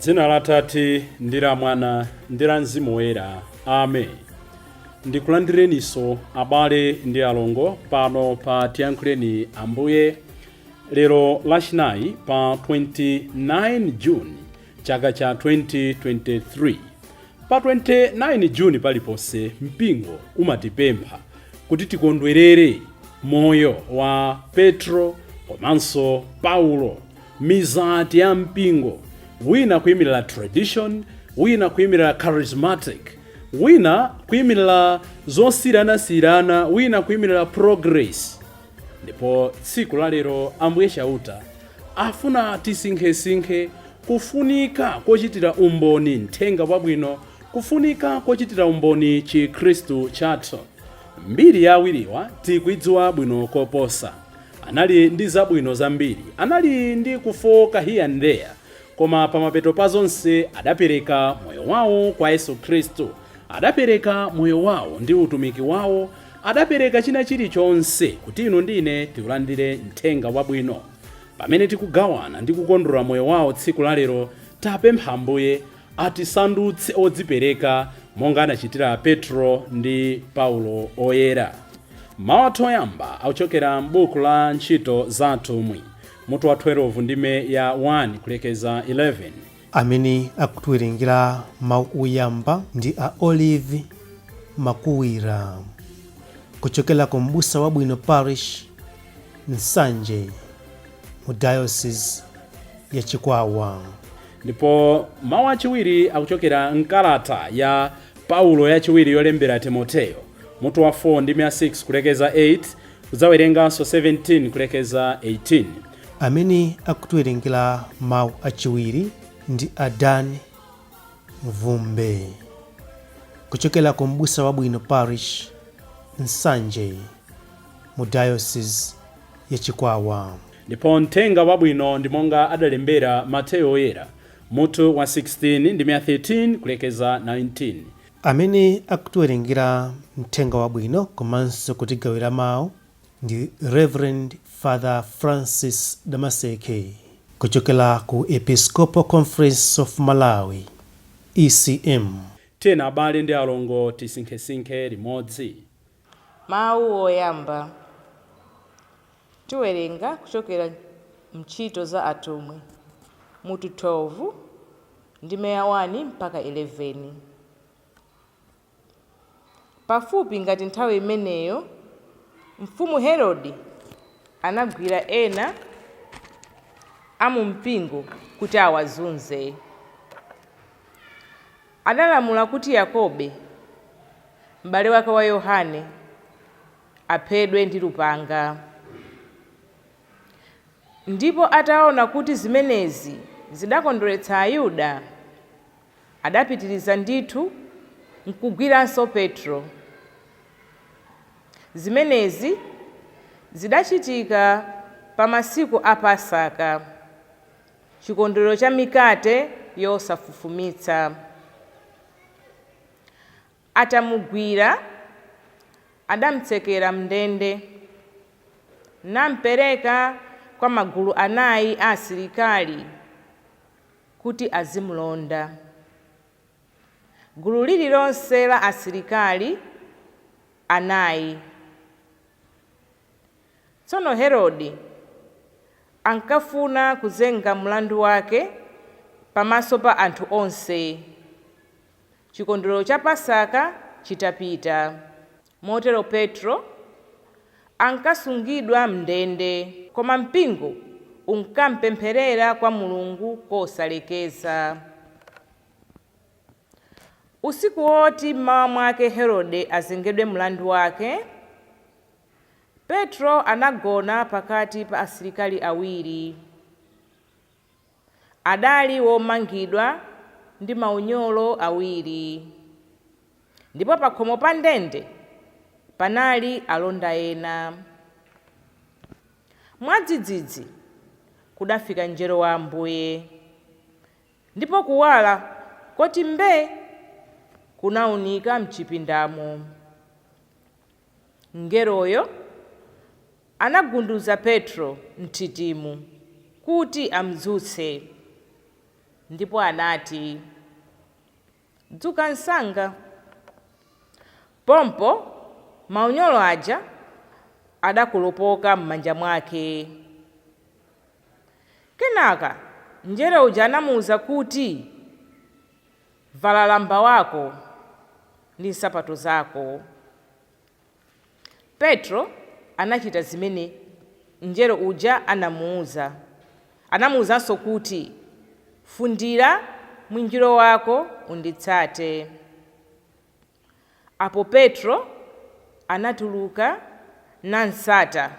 dzina la tate ndi la mwana ndi la mzimu woyera amen ndikulandireninso abale ndi alongo pano pa tiyankhuleni ambuye lero lachinayi pa 29 juni chaka cha 2023. Pa 29 June paliponse, mpingo umatipempha kuti tikondwerere moyo wa Petro komanso Paulo, mizati ya mpingo, wina kuimirira tradition, wina kuimirira charismatic, wina kuimirira zosiyiranasiyirana, wina kuimirira progress. ndipo tsiku lalero ambuye chauta afuna tisinkhesinkhe kufunika kochitira umboni mthenga wabwino kufunika kochitira umboni chikhristu chathu mbiri ya awiriwa tikuidziwa bwino koposa anali ndi zabwino zambiri anali ndi kufooka here and there koma pamapeto pa zonse adapereka moyo wawo kwa yesu khristu adapereka moyo wawo ndi utumiki wawo Adapereka china chiri chonse kuti inu ndi ine tikulandire Mthenga Wabwino. Pamene tikugawana ndi kukondwerera moyo wao tsiku la lero, tapempha Ambuye atisandutse odzipereka monga anachitira Petro ndi Paulo Oyera. Mau athu oyamba akuchokera m'buku la Ntchito za Atumwi, mutu wa 12 ndime ya 1 kulekeza 11. Amene akutiwerengera mawu oyamba ndi a Olive Makuwira kuchokera ku M'busa Wabwino Parish, Nsanje mu Diocese ya Chikwawa. Ndipo mawu achiwiri akuchokera m'kalata ya Paulo yachiwiri yolembera Timoteyo, mutu wa 4 ndime ya 6 kulekeza 8, Kudzawerenganso 17 kulekeza 18. Amene akutiwerengera mawu achiwiri ndi a Dan Mvumbe kuchokera ku M'busa Wabwino Parish, Nsanje mu Diocese ya Chikwawa. Ndipo Mthenga Wabwino ndi monga adalembera Mateyo Woyera, mutu wa 16 ndime ya 13 kulekeza 19. Amene akutiwerengera Mthenga Wabwino komanso kutigawira mau ndi Reverend Father Francis Damaseke kuchokera ku Episcopal Conference of Malawi, ECM. Tiyeni abale ndi alongo tisinkhesinkhe limodzi. Mawu oyamba, tiwerenga kuchokera m'Ntchito za Atumwi, mutu 12, ndime ya 1 mpaka 11. Pafupi ngati nthawi imeneyo, Mfumu Herode anagwira ena a mumpingo kuti awazunze. Adalamula kuti Yakobe, m'bale wake wa Yohane, aphedwe ndi lupanga. Ndipo ataona kuti zimenezi zidakondweretsa Ayuda, adapitiriza ndithu nkugwiranso Petro. Zimenezi zidachitika pa masiku a Pasaka. Chikondwerero cha Mikate Yosafufumitsa Atamugwira, adamtsekera m'ndende, nampereka kwa magulu anai a asilikali kuti azimlonda. Gulu lililonse la asilikali anai Tsono Herode ankafuna kuzenga mlandu wake pamaso pa anthu onse, chikondwerero cha Pasaka chitapita. Motero Petro ankasungidwa m'ndende, koma mpingo unkampempherera kwa Mulungu kosalekeza. Usiku woti m'mawa mwake Herode azengedwe mlandu wake, Petro anagona pakati pa asilikali awiri. Adali womangidwa ndi maunyolo awiri, ndipo pakhomo pa ndende panali alonda ena. Mwadzidzidzi kudafika mngelo wa Ambuye. Ndipo kuwala koti mbee kunaunika m'chipindamo. Mngeloyo anagunduza Petro m'nthitimu kuti am'dzutse, ndipo anati, Dzuka msanga! Pompo maunyolo aja adakolopoka m'manja mwake. Kenaka mngelo uja anamuuza kuti, Vala lamba wako ndi nsapato zako. Petro anachita zimene mngelo uja anamuuza. Anamuuzanso kuti, Fundira mwinjiro wako unditsate. Apo Petro anatuluka nam'tsata,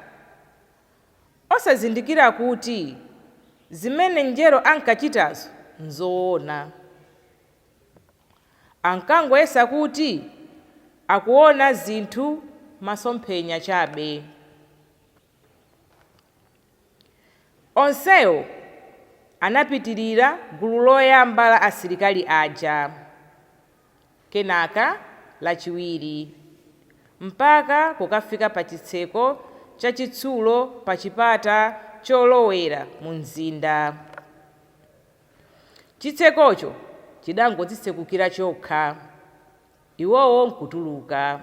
osazindikira kuti zimene mngelo ankachitazo n'zoona. Ankangoyesa kuti akuona zinthu masomphenya chabe. Onsewo anapitirira gulu loyamba la asilikali aja, kenaka lachiwiri, mpaka kukafika pachitseko chachitsulo pachipata cholowera mumzinda. Chitsekocho chidangodzitsekukira chokha, iwowo nkutuluka.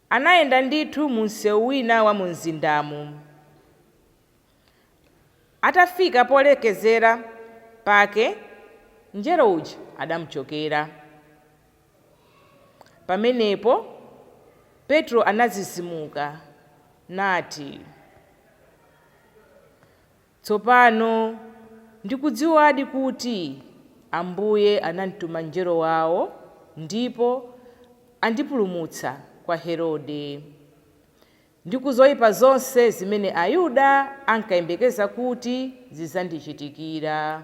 Anayenda ndithu mu mseu wina wa mumzindamo. Atafika polekezera pake, mngelo uja adamuchokera. Pamenepo Petro anadzidzimuka, nati, Tsopano ndikudziwadi kuti Ambuye anamtuma mngelo wawo ndipo andipulumutsa kwa Herode, ndi ku zoipa zonse zimene Ayuda ankayembekeza kuti zidzandichitikira.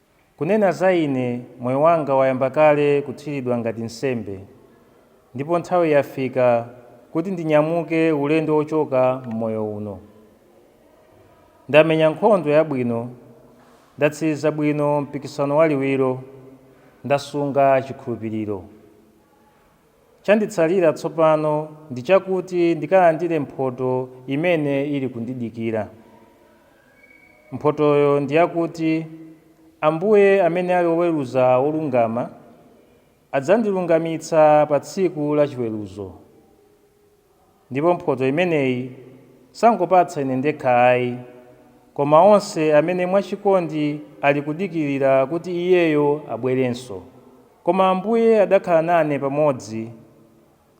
Kunena za ine, moyo wanga wayamba kale kuthiridwa ngati nsembe, ndipo nthawi yafika kuti ndinyamuke ulendo wochoka m'moyo uno. Ndamenya nkhondo yabwino, ndatsiriza bwino mpikisano waliwiro, ndasunga chikhulupiriro. Chanditsalira tsopano ndi chakuti ndikalandire mphotho imene ili kundidikira. Mphothoyo ndi yakuti Ambuye amene ali Woweruza wolungama adzandilungamitsa pa tsiku la chiweruzo. Ndipo mphotho imeneyi sangopatsa ine ndekha ai, koma onse amene mwachikondi ali kudikirira kuti Iyeyo abwerenso. Koma Ambuye adakhala nane pamodzi,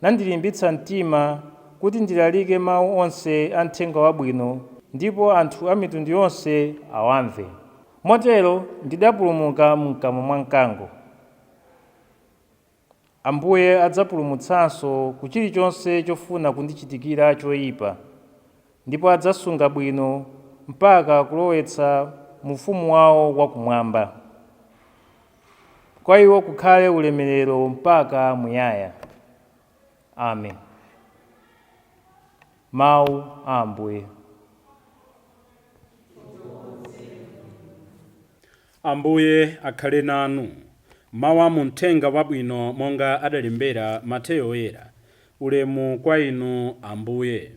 nandilimbitsa mtima kuti ndilalike mau onse a Mthenga Wabwino ndipo anthu a mitundu yonse awamve. Motero ndidapulumuka m'kamwa mwa mkango. Ambuye adzapulumutsanso ku chilichonse chofuna kundichitikira choipa, ndipo adzasunga bwino mpaka kulowetsa mu ufumu wao wa kumwamba. Kwa iwo kukhale ulemerero mpaka muyaya. Amen. Mau a Ambuye. Ambuye akhale nanu. Mawu a mu Mthenga Wabwino monga adalembera Mateyo Woyera. Ulemu kwa Inu, Ambuye.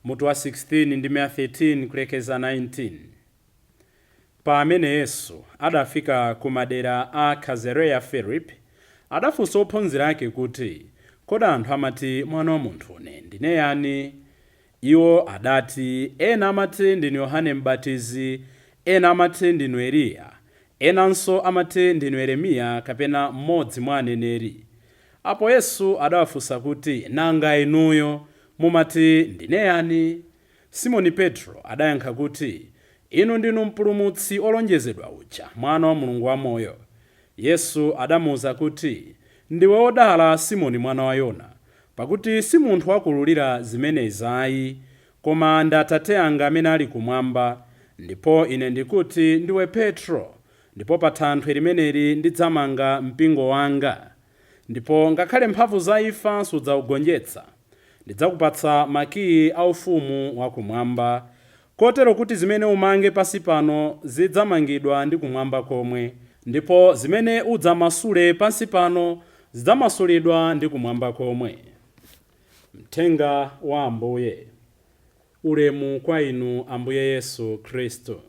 Mutu wa 16, ndime ya 13 kulekeza 19. Pamene Yesu adafika ku madera a Kazareya-Filipi, adafunsa ophunzira ake kuti, Kodi anthu amati Mwana wa Munthune ndine yani? Iwo adati, Ena amati ndinu Yohane M'batizi, ena amati ndinu Eliya, enanso amati ndinu Yeremiya kapena mmodzi mwa aneneri. Apo Yesu adawafunsa kuti, Nanga inuyo, mumati ndine yani? Simoni Petro adayankha kuti, Inu ndinu Mpulumutsi wolonjezedwa uja, Mwana wa Mulungu wamoyo. Yesu adamuuza kuti, Ndiwe wodala, Simoni mwana wa Yona, pakuti si munthu wakuululira zimenezi ai, koma ndi Atate anga amene ali Kumwamba. Ndipo Ine ndikuti ndiwe Petro, ndipo pa thanthwe limeneli ndidzamanga Mpingo wanga. Ndipo ngakhale mphamvu za imfa sizidzaugonjetsa. Ndidzakupatsa makii a Ufumu wa Kumwamba. Kotero kuti zimene umange pansi pano zidzamangidwa ndi kumwamba komwe, ndipo zimene udzamasule pansi pano zidzamasulidwa ndi kumwamba komwe. Mthenga wa Ambuye. Ulemu kwa Inu, Ambuye Yesu Khristu.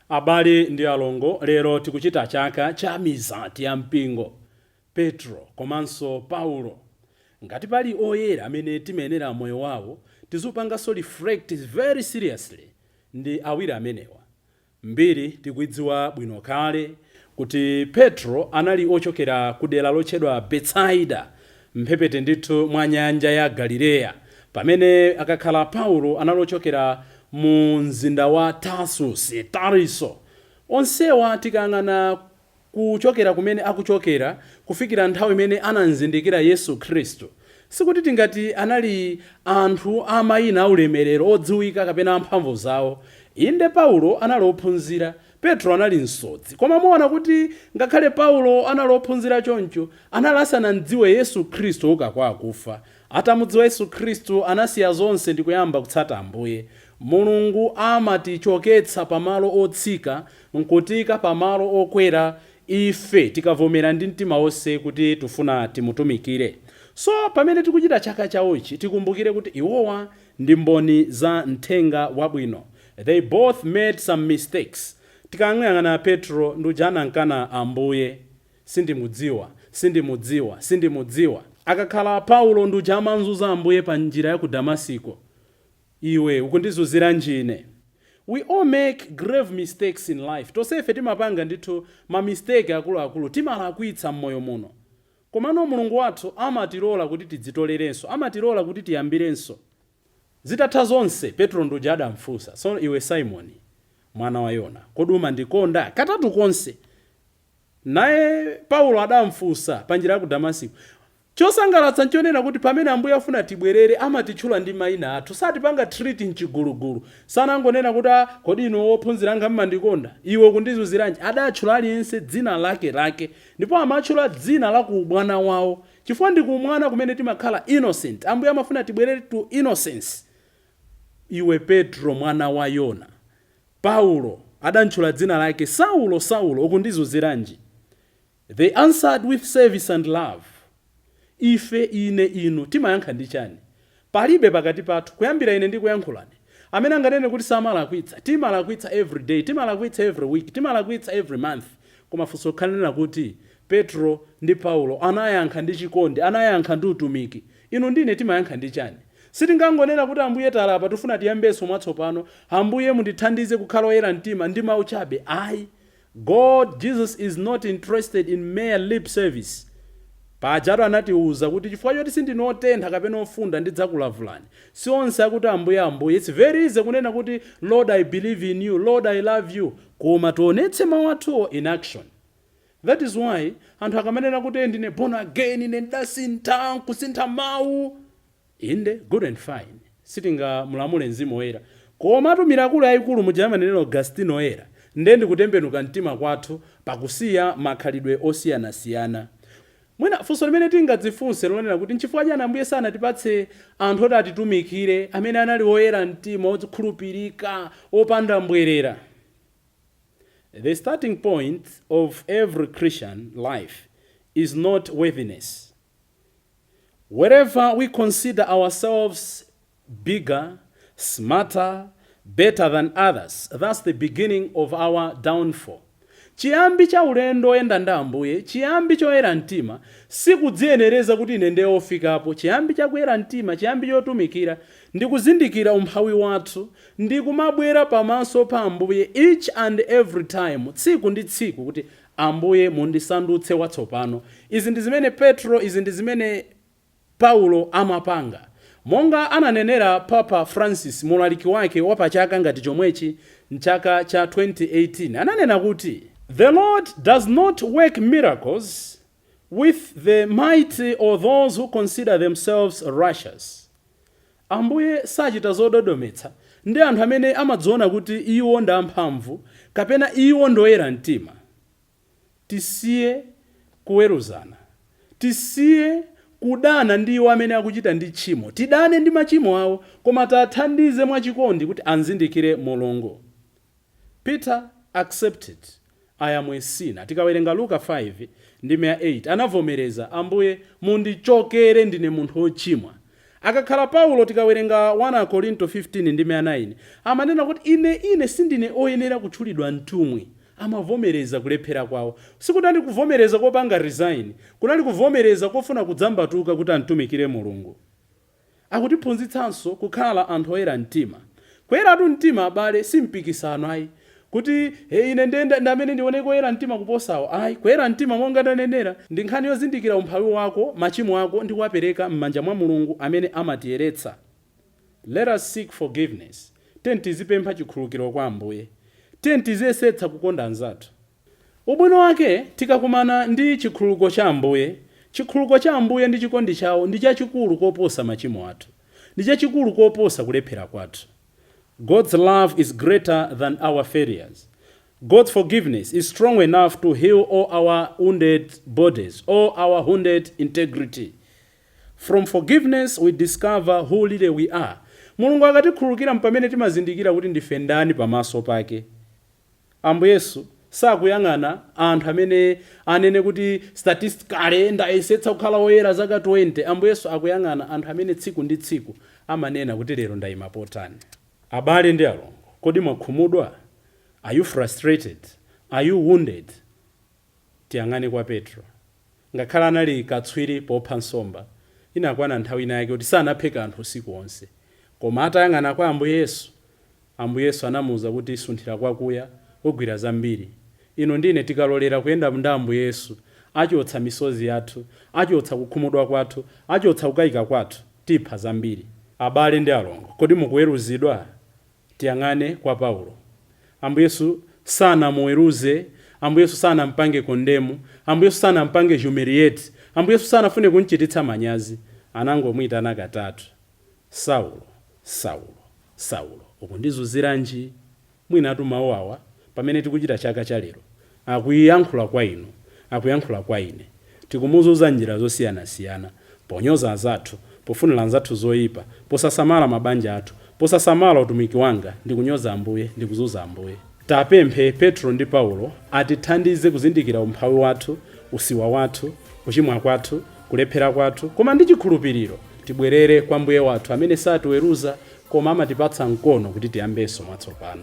Abale ndi alongo, lero tikuchita chaka cha mizati ya mpingo. Petro komanso Paulo. Ngati pali oyera amene timayenera moyo wawo tiziupanganso reflect very seriously ndi awiri amenewa. Mbiri tikuidziwa bwino kale kuti Petro anali ochokera ku dera lotchedwa Betsaida mphepete ndithu mwa nyanja ya Galileya pamene akakhala Paulo anali ochokera mu mzinda wa Tarsusi, Tariso. Onsewa tikayang'ana. kuchokera kumene akuchokera kufikira nthawi imene anamzindikira Yesu Khristu, sikuti tingati anali anthu a maina aulemerero, odziwika, kapena a mphamvu zawo. Inde, Paulo anali ophunzira, Petro anali msodzi, koma muona kuti ngakhale Paulo anali ophunzira choncho, anali asanamdziwe Yesu Khristu ouka kwa akufa. Atamudziwa Yesu Khristu anasiya zonse ndikuyamba kutsata Ambuye. Mulungu amatichoketsa pa malo otsika nkutiika pa malo okwera ife tikavomera ndi mtima wonse kuti tufuna timutumikire. So pamene tikuchita chaka chawochi tikumbukire kuti iwowa ndi mboni za Mthenga wabwino. They both made some mistakes. Tikamuyang'ana Petro ndi uja anamkana Ambuye. Sindimudziwa, sindimudziwa, sindimudziwa. Akakhala Paulo ndi uja amamzunza Ambuye pa njira ya ku Damasiko, iwe ukundizunziranji ine? We all make grave mistakes in life. Tonsefe timapanga ndithu ma mistake akuluakulu, timalakwitsa m'moyo muno. Komano Mulungu wathu amatilola kuti tidzitolerenso, amatilola kuti tiyambirenso. Zitatha zonse, Petro ndi uja adamfunsa, So iwe Simoni, mwana wa Yona, kodi umandikonda? Katatu konse! Naye Paulo adamfunsa pa njira ya ku Damasiko. Chosangalatsa nchonena kuti pamene Ambuye afuna tibwerere amatitchula ndi maina athu. Satipanga treat m'chigulugulu. Sanangonena kuti ah, kodi inu ophunzira anga mmandikonda? Iwe ukundizunziranji? Adatchula aliyense dzina lake lake. Ndipo amatchula dzina la ku umwana wawo. Chifukwa ndi ku umwana kumene timakhala innocent. Ambuye amafuna tibwerere to innocence. Iwe Petro mwana wa Yona. Paulo adamtchula dzina lake, Saulo, Saulo, ukundizunziranji? They answered with service and love, Ife, ine, inu, timayankha ndi chani? Palibe pakati pathu, kuyambira ine ndikuyankhulane, amene anganene kuti samalakwitsa. Timalakwitsa every day, timalakwitsa every week, timalakwitsa every month. Koma funso likhale ndi lakuti, Petro ndi Paulo anayankha ndi chikondi, anayankha ndi utumiki. Inu ndi ine timayankha ndi chani? Sitingangonena kuti, Ambuye, talapa, tifuna tiyambenso mwatsopano. Ambuye, mundithandize kukhala oyera mtima, ndi mau chabe. Ayi. God, Jesus, is not interested in mere lip service. Pajatu anatiuza kuti chifukwa choti sindinu otentha kapena ofunda, ndidzakulavulani. Si onse akuti, Ambuye, Ambuye. It's very easy kunena kuti, Lord, I believe in you. Lord, I love you. Koma tionetse mau athuwo in action. That is why anthu akamanena kuti ndine born again, ine ndasintha, nkusintha mau. Inde good and fine, sitingamulamule Mzimu Woyera. Komatu mirakulu yaikulu muja amanenera Augustino Oyera nde ndi kutembenuka mtima kwathu pakusiya makhalidwe osiyanasiyana. Mwina funso limene tingadzifunse nlonena kuti, nchifukwa chani Ambuye sanatipatse anthu oti atitumikire amene anali oyera mtima, okhulupirika, opanda mbwerera? The starting point of every Christian life is not worthiness. Wherever we consider ourselves bigger, smarter, better than others, that's the beginning of our downfall. Chiyambi cha ulendo oyenda ndi Ambuye, chiyambi choyera mtima, sikudziyenereza kuti ine ndiye ofikapo, chiyambi cha kuyera mtima, chiyambi chotumikira, ndi kuzindikira umphawi wathu, ndi kumabwera pamaso pa Ambuye each and every time, tsiku ndi tsiku, kuti, Ambuye, mundisandutse watsopano. Izi ndi zimene Petro, izi ndi zimene Paulo amapanga. Monga ananenera Papa Francis mu ulaliki wake wa pa chaka ngati chomwechi, mchaka cha 2018, ananena kuti, The Lord does not work miracles with the mighty or those who consider themselves righteous, Ambuye sachita zododometsa ndi anthu amene amadziona kuti iwo ndi amphamvu kapena iwo ndi oyera mtima. Tisiye kuweruzana. Tisiye kudana ndi iwo amene akuchita ndi tchimo. Tidane ndi machimo awo, koma tiathandize mwachikondi kuti anzindikire Mulungu. Peter accepted, I am a sinner. Tikawerenga Luka 5 ndime ya 8 anavomereza, Ambuye mundichokere ndine munthu ochimwa. Akakhala Paulo tikawerenga 1 Akorinto 15 ndime ya 9 amanena kuti ine ine sindine oyenera kutchulidwa mtumwi. Amavomereza kulephera kwawo. Sikunali kuvomereza kopanga resign, kunali kuvomereza kofuna kudzambatuka kuti amtumikire Mulungu. Akutiphunzitsanso kukhala anthu oyera mtima. Kuyeratu mtima abale, si mpikisano ayi, kuti, He, ine ndiye ndi ndi amene ndioneke woyera mtima kuposawo. Ayi, kuyera mtima monga ndanenera, ndi nkhani yozindikira umphawi wako, machimo ako ndi kuwapereka m'manja mwa Mulungu amene amatiyeretsa. Let us seek forgiveness. Tiyeni tizipempha chikhululukiro kwa Ambuye. Tiyeni tiziyesetsa kukonda anzathu. Ubwino wake tikakumana ndi chikhululuko cha Ambuye, chikhululuko cha Ambuye ndi chikondi chawo ndi chachikulu koposa machimo athu, ndi chachikulu koposa kulephera kwathu. God's love is greater than our failures. God's forgiveness is strong enough to heal all our wounded bodies, all our wounded integrity. From forgiveness we discover who really we are. Mulungu akatikhululukira mpamene timazindikira kuti ndife ndani pamaso pake. Ambuye Yesu sakuyang'ana anthu amene anene kuti statistically ndayesetsa kukhala oyera zaka 20. Ambuye Yesu akuyang'ana anthu amene tsiku ndi tsiku amanena kuti lero ndaima potani. Abale ndi alongo, kodi mwakhumudwa? Are you frustrated? Are you wounded? Tiyang'ane kwa Petro. Ngakhale anali katswiri popha nsomba, inakwana nthawi ina yake kuti sanaphe kanthu usiku onse. Koma atayang'ana kwa Ambuye Yesu, Ambuye Yesu anamuuza kuti sunthira kwakuya, ugwira zambiri. Inu ndi ine tikalolera kuyenda ndi Ambuye Yesu, achotsa misozi yathu, achotsa kukhumudwa kwathu, achotsa kukaika kwathu, tipha zambiri. Abale ndi alongo, kodi mukuweruzidwa? Tiyang'ane kwa Paulo. Ambuye Yesu sanamuweruze, Ambuye Yesu sanampange condemn, Ambuye Yesu sanampange humiliate, Ambuye Yesu sanafune kumchititsa manyazi. Anangomuitana katatu, Saulo, Saulo, Saulo, ukundizunziranji? Mwinatu mau awa pamene tikuchita chaka cha lero Akuyankhula kwa inu, akuyankhula kwa ine. Tikumuzunza m'njira zosiyanasiyana, ponyoza anzathu, pofunira anzathu zoipa, posasamala mabanja athu, posasamala utumiki wanga, ndi kunyoza Ambuye, ndi kuzunza Ambuye. Tipemphe Petro ndi Paulo atithandize kuzindikira umphawi wathu, usiwa wathu, kuchimwa kwathu, kulephera kwathu, koma ndi chikhulupiriro tibwerere kwa Mbuye wathu amene satiweruza koma amatipatsa mkono kuti tiyambenso mwatsopano.